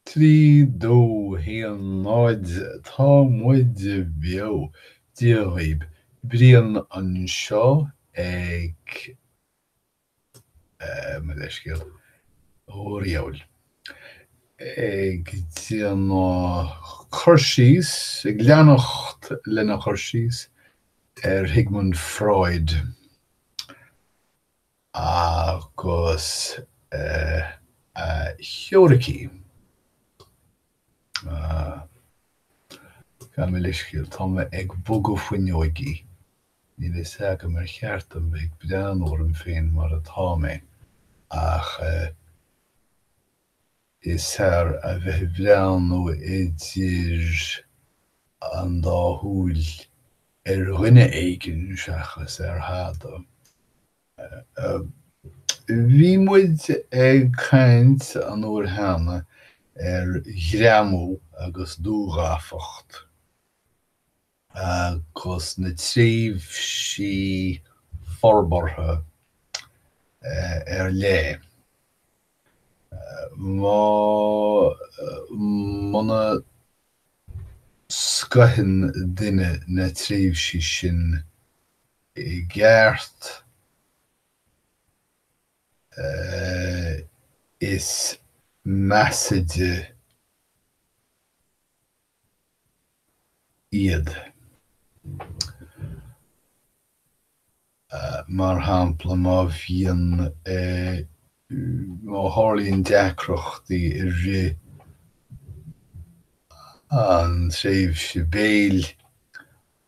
3, 2, 1, 0 Tá muid beo, Dia dhaoib. Brian anseo gabh mo leithscéal. Ó diabhail. Ag déanamh cur síos, ag leanacht lena chur síos ar Shigmund Freud. Agus a theoiricí? Ah. Gabh mo leithscéal, tá mé ag bogadh fuinneoigí. Níl fhios agam ar cheart dom bheith ag breathnú orm féin mar atá mé, ach eh. Is fearr a bheith ag breathnú idir an dá shúil ar dhuine éigin seachas ar thada. Bhí muid ag caint an uair cheana ar ghreamú agus dúghafacht. agus na tréimhsí forbartha ar leith. Má muna scoitheann duine na tréimhsí sin i gceart, is measaide iad. Mar shampla má bhíonn, má tharlaíonn deacrachtaí i rith an tréimhse béil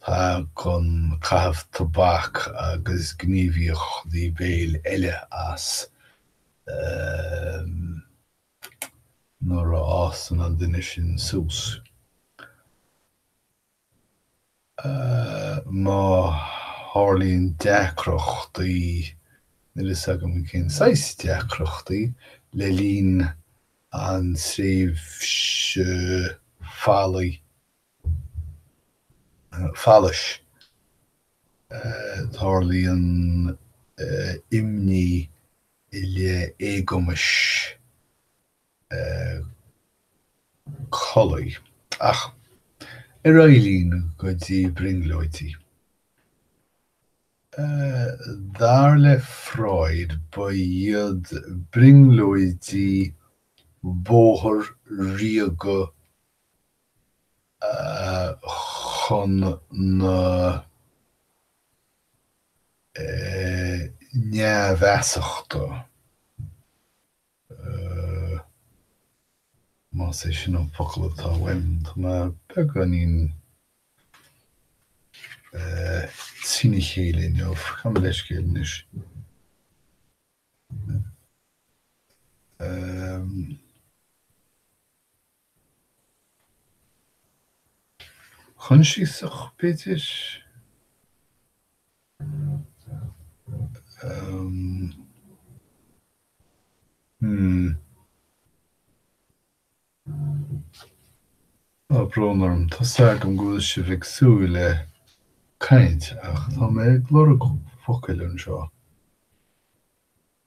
tagann caitheamh tobac agus gníomhaíochtaí béil eile as. nuair a fhásann an duine sin suas. Má tharlaíonn deacrachtaí, níl a fhios agam cén saghas deacrachtaí, le linn an tréimhse faillí, fallais, tarlaíonn imní i leith éagumais collaí, ach ar aghaidh linn go dtí brionglóidí. Dar le Freud ba iad brionglóidí bóthar ríoga chun na. neamhfhiosachta, más é sin an focal atá uaim. Tá mé beagáinín trína chéile inniu, gabh mo leithscéal anois. Coinsiasach, b'fhéidir. Tá brón orm, tá 's agam go bhfuil sibh ag súil le caint ach tá mé ag lorg focail anseo.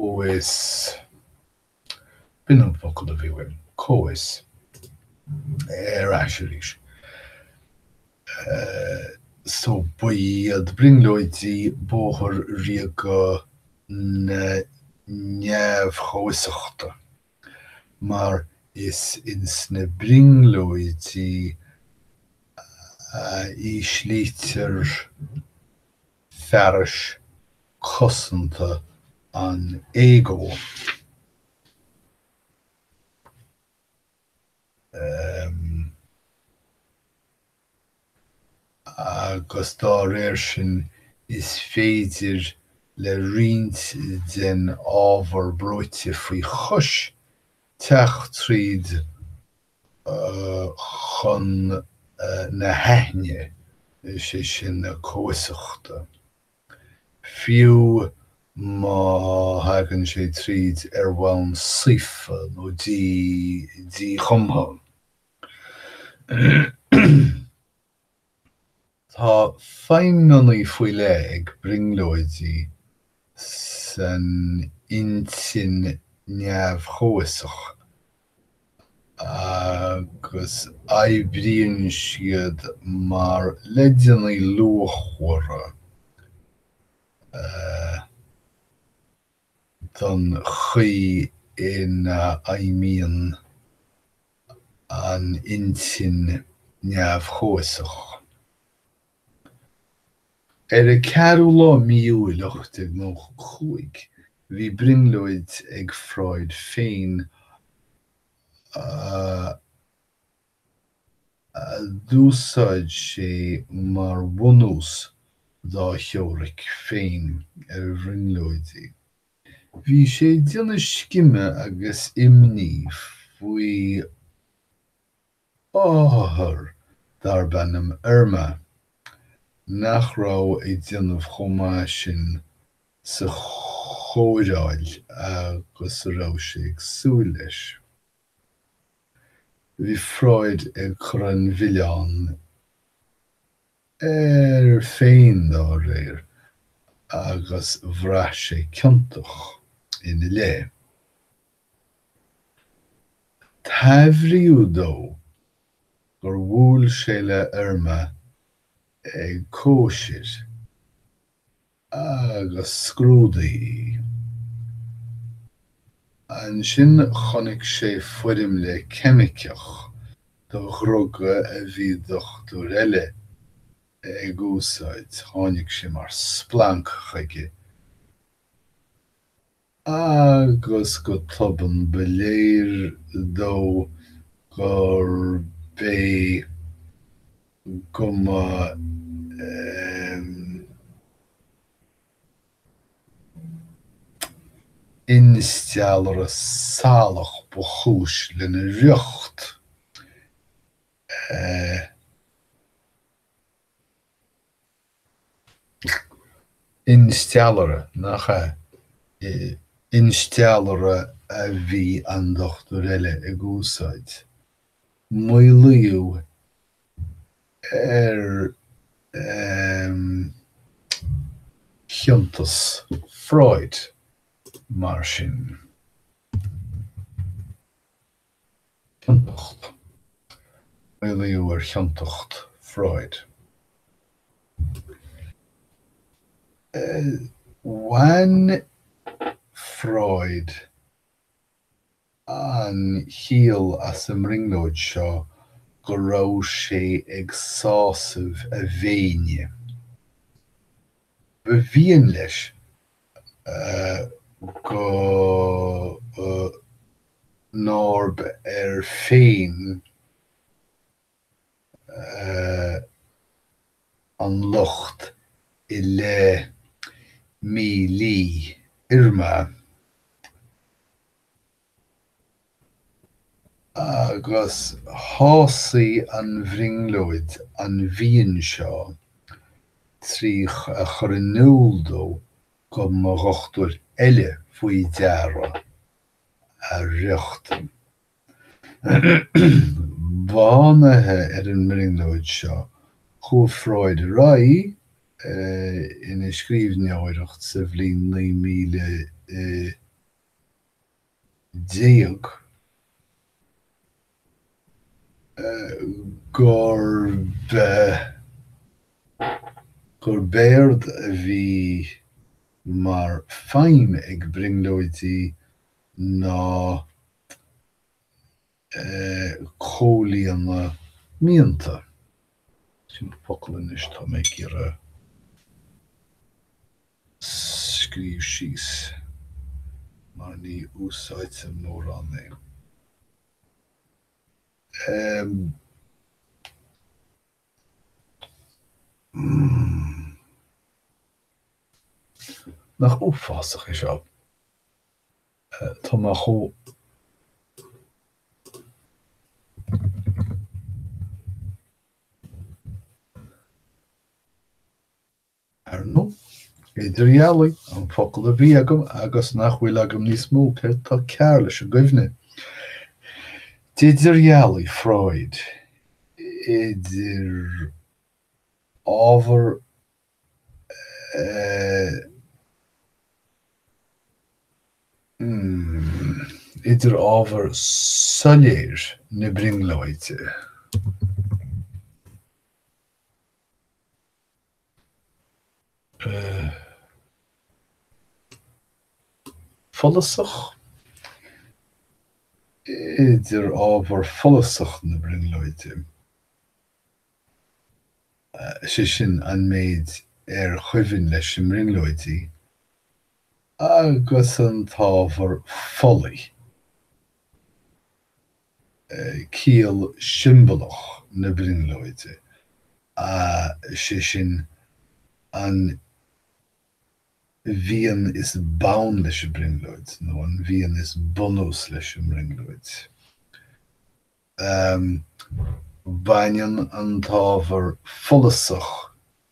comhfhios, B'in an focal a bhí uaim, comhfhios. Ar ais arís. So ba iad brionglóidí bóthar ríoga na neamh-chomhfhiosachta, mar is ins na brionglóidí a íslítear fearais cosanta an ego agus dá réir sin is féidir le roinnt den ábhar brúite faoi chois teacht tríd chun na haithne, is é sin na comhfhiosachta, fiú má thagann sé tríd ar bhonn saofa nó dí díchumtha. Tá feidhmeannaí faoi leith ag brionglóidí san intinn neamh-chomhfhiosach agus oibríonn siad mar leideannaí luachmhara a. don chaoi ina fheidhmíonn an intinn neamh-chomhfhiosach. Ar an 4ú lá Mí Iúil 1895 bhí brionglóid ag Freud féin a. a d'úsáid sé mar bhunús dá theoiric féin ar bhrionglóidí. Bhí sé ag déanamh scime agus imní faoi othar darb ainm Irma, nach raibh ag déanamh chomh maith sin sa chóireáil agus a raibh sé ag súil leis. Bhí Freud ag cur an mhilleáin air féin dá réir agus bhraith sé ciontach ina leith. Taibhríodh dó gur bhuail sé le Irma ag cóisir. agus scrúdaigh í. Ansin chonaic sé foirmle ceimiceach do dhruga a bhí dochtúir eile ag úsáid. Tháinig sé mar splanc chuige. agus go tobann ba léir dó gurb é go mba insteallaire salach ba chúis lena riocht. Insteallaire, nach ea? Insteallaire a bhí an dochtúir eile ag úsáid. Maolaíodh ar chiontas Freud, mar sin. Ciontacht. Maolaíodh ar chiontacht Freud. Bhain Freud an chiall as an mbrionglóid seo go raibh sé ag sásamh a mhéine. Ba mhian leis go nárb air féin an locht i leith mílí Irma. agus shásaigh an bhrionglóid an mhian seo trí a chur in iúl dó go mba dhochtúir eile faoi deara a riocht. Bunaithe ar an mbrionglóid seo, chuaigh Freud ar aghaidh ina scríbhneoireacht sa bhliain 9000 i. déag, gurb é gurb éard a bhí mar feidhm ag brionglóidí ná. comhlíonadh mianta. Sin an focal anois atá mé ag iarraidh scríobh síos mar ní úsáidtear mórán é. Nach uafásach é seo? Tá mé chomh ar ndóigh idirdhealaigh, an focal a bhí agam agus nach bhfuil agam níos mó, céard atá cearr leis an gcuimhne? D'idirdhealaigh Freud idir ábhar idir ábhar soiléir na brionglóide. follasach. idir ábhar follasach na brionglóide. is é sin an méid ar chuimhin leis an mbrionglóidí, agus an t-ábhar folaigh, ciall siombalach na brionglóide, is é sin an mhian is bun leis an bhrionglóid nó an mhian is bunús leis an mbrionglóid. Baineann an t-ábhar follasach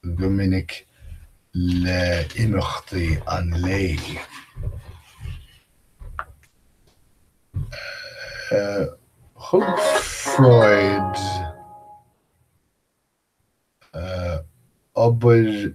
go minic le imeachtaí an lae. Thug Freud obair.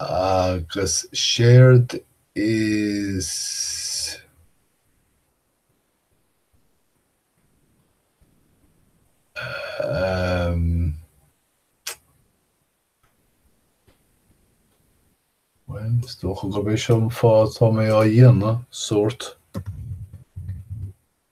Agus séard is. Bhuel, is dócha gurb é seo an fáth atá mé á dhéanamh, sórt.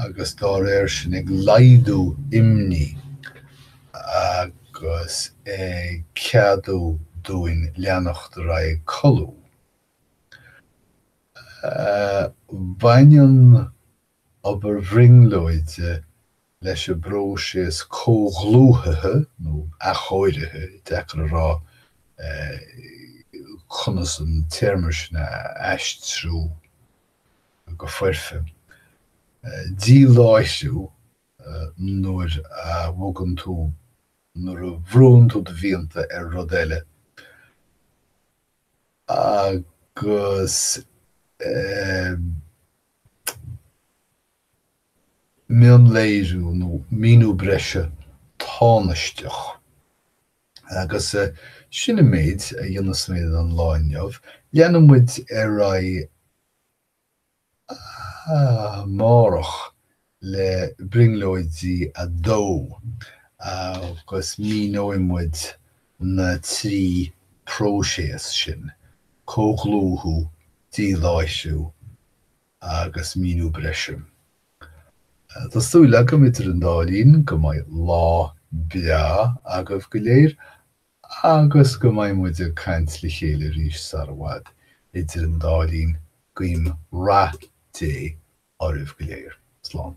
agus dá réir sin ag laghdú imní agus ag ceadú dúinn leanacht ar aghaidh ag codladh. Baineann obair bhrionglóide leis an bpróiseas comhdhlúthaithe, nó athchóirithe, deacair a rá conas an téarma sin a aistriú go foirfe. Díláithriú nuair a bhogann tú, nuair a bhrúnn tú do mhianta ar rud eile agus eh mionléiriú nó míniú breise tánaisteach Agus sin an méid a dhéanfas mé don lá inniu. Leanfaidh muid ar aghaidh amárach le brionglóidí 2 agus míneoidh muid na trí próiséas sin, comhdhlúthú, díláithriú, agus míniú breise. Tá súil agam idir an dá linn go mbeidh lá breá agaibh go léir agus go mbeidh muid ag caint le chéile arís sara bhfad. Idir an dá linn, guím rath Dé oraibh go léir. Slán.